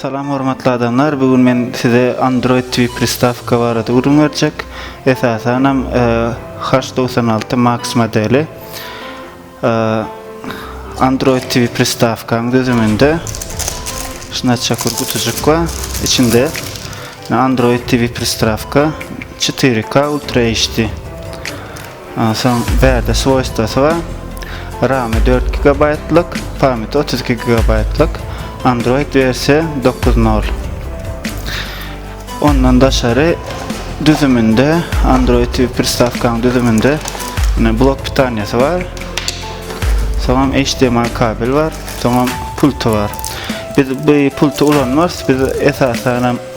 Salam hormatly adamlar, bu gün men size Android TV pristawka barada gürrüň berjek. Esasan hem H96 e, Max modeli. E, Android TV pristawkanyň düzüminde şuna çakur gutujyk we içinde Android TV pristawka 4K Ultra HD Onsoň bärde swoýstwosy bar. Ramy dört gigabaýtlyk, pamýati otuz iki gigabaýtlyk. Android wersiýa dokuz nol. Ondan daşary düzüminde, Android TV pristawkanyň düzüminde ine blok pitaniýasy bar. Soňam HDMI kabel bar, soňam pulty bar. Biz bu pulty ulanmarys, biz esasanam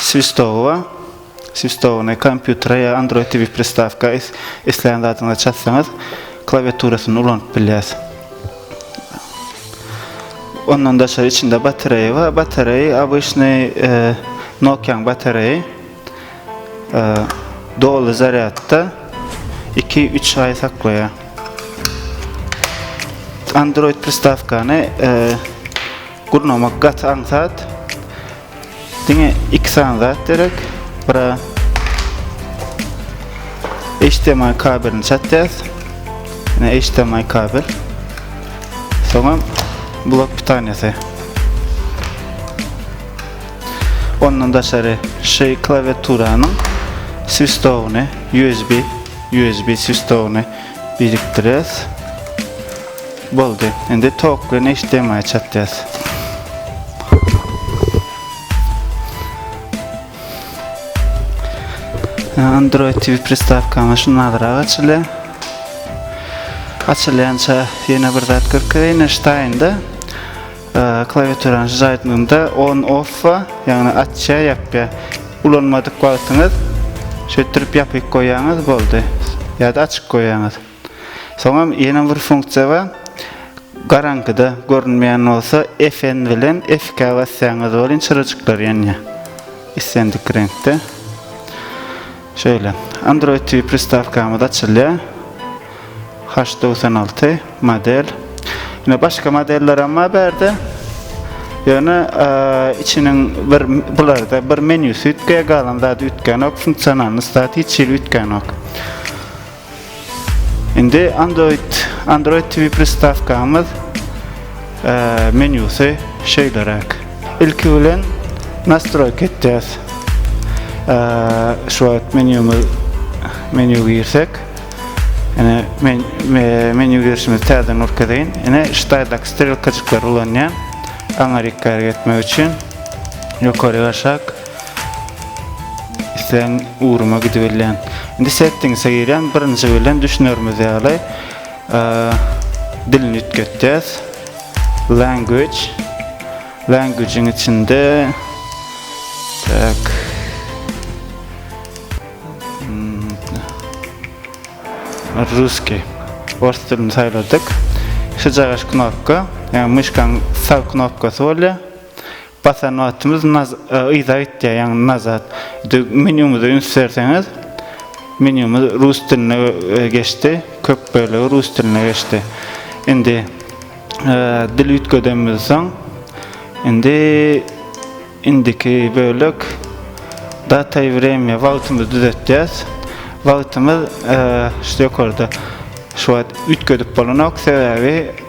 Swistowa, Swistowny, kompýutere ýa Android TV pristawka isleýän zadyňyza çatsaňyz, klawiaturasyny ulanyp bilýäs. Ondan daşary içinde batareýa bar. Batareýa obyçnyý Nokia-nyň batareýa. Doly zarýadda 2-3 aý saklaýar. Android pristawkany Gurnamak gaty aňsat. Diňe iki sany zat gerek. Bura HDMI kabelini çatýas. Ýene HDMI kabel. Soňra blok pitanyýasy. Ondan daşary şu klawiaturanyň swistowny USB USB swistowny birikdirýäs. Boldy. Indi tok bilen HDMI çatýas. Android TV pristavkamy şundagyrak açylýar. Açylýança ýene bir zat görkezýän Einstein-de klawiaturany jaýtmagynda on off we ýagny açýa ýapýa. Ulanmadyk wagtyňyz şeýtdirip ýapyk goýýaňyz boldy. Ýa-da açyk goýýaňyz. Soňam ýene bir funksiýa bar. Garaňkyda görünmeýän bolsa FN bilen FK basýaňyz welin çyrajyklar ýanýar. Islendik reňkde. Şeýle. Android TV pristawkamyz açylýar. H togsan alty model. Ýöne başga modeller hem bar bärde. Ýöne içiniň bir bularda bir menýusy üýtgeýär, galan zady üýtgänok, funksionalnyý zat hiç hili üýtgänok. Indi Android Android TV pristawkamyz menýusy şeýleräk. Ilki bilen nastroýka etýäs. Şu wagt menýumyz menýu girsek, ene men menýu girişimizi täzeden görkezeýin. Ene ştaýdak strelkajyklary ulanýan aňa rikär etmek üçin ýokary aşak. Sen ugruma gidibilýän. Indi settingse girýän, birinji bilen düşünerimiz ýaly dilini üýtgetýäs. Language. Language-iň içinde tak Ruski. Ors dilini saýladyk. Şu jagaş knopka, ýa myşkaň sag knopkasy bolýar. Basan wagtymyz naz yza gitýär ýagny nazat. Indi menýumyza üns berseňiz, menýumyz rus diline geçdi, köp bölegi rus diline geçdi. Indi dil üýtgedenimizden soň indi indiki bölek data i wremýa wagtymyzy düzetýäs. Wagtymyz şu ýokarda şu wagt üýtgedip bolanok sebäbi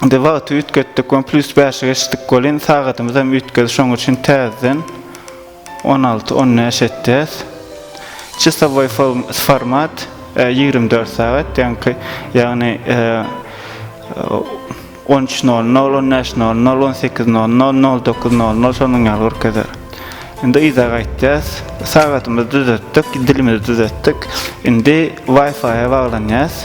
Indi wagty üýtgetdik on plus bäşe geçdik welin sagadymyzam üýtgedi şoň üçin täzeden on alty on bäş etýäs çysowoý format ýigrimi dört sagat ýaňky ýagny on üç nol nol on bäş nol nol on sekiz nol nol nol dokuz nol nol şonuň ýaly görkezer indi yza gaýtýas sagadymyzy düzetdik dilimizi düzetdik indi wifi baglanýas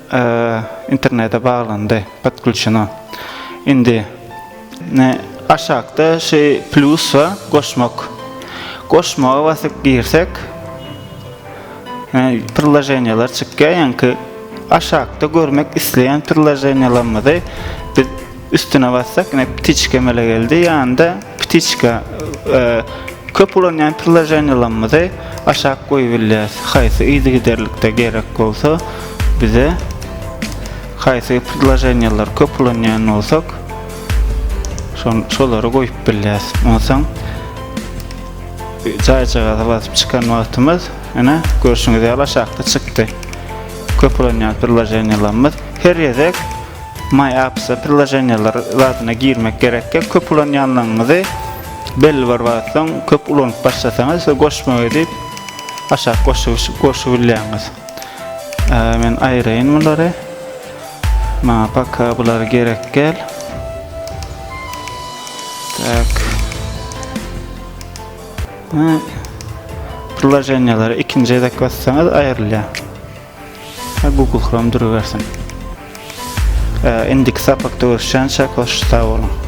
Internete baglandy podklçuna indi ne aşakda şi plus va goşmak goşmaga basyp girsek ne prilajeniýalar çykýa ýaňky aşakda görmek isleýän prilajeniýalarymyzy biz Üstüne bassak yine ptiçka emele geldi. Yanında ptiçka e, köp ulanýan priloženiýalarymyzy aşak goýubilýäs. Haýsy yzy giderlikde gerek bolsa bize haýsy priloženiýalar köp ulanýan bolsak şolary goýup bilýäs. Onsoň jaýjagaza basyp çykan wagtymyz ine görşüňiz ýaly aşakda çykdy. Köp ulanýan priloženiýalarymyz her ýedek My Apps-a prilloženiýalar zadyna girmek gerekkä, köp ulanýanlygyňyzy belli bir wagt soň köp ulanyp başlasaňyz size goşmak edip aşak goşup goşup bilýäňiz. Men aýraýyn bulary. Maňa paka bulary gerek gel. Tak. Prilloženiýalary ikinji edek bassaňyz aýrylýar. Ha Google Chrome durubersin. Indiki sapakda görüşýänçäk hoş sag boluň.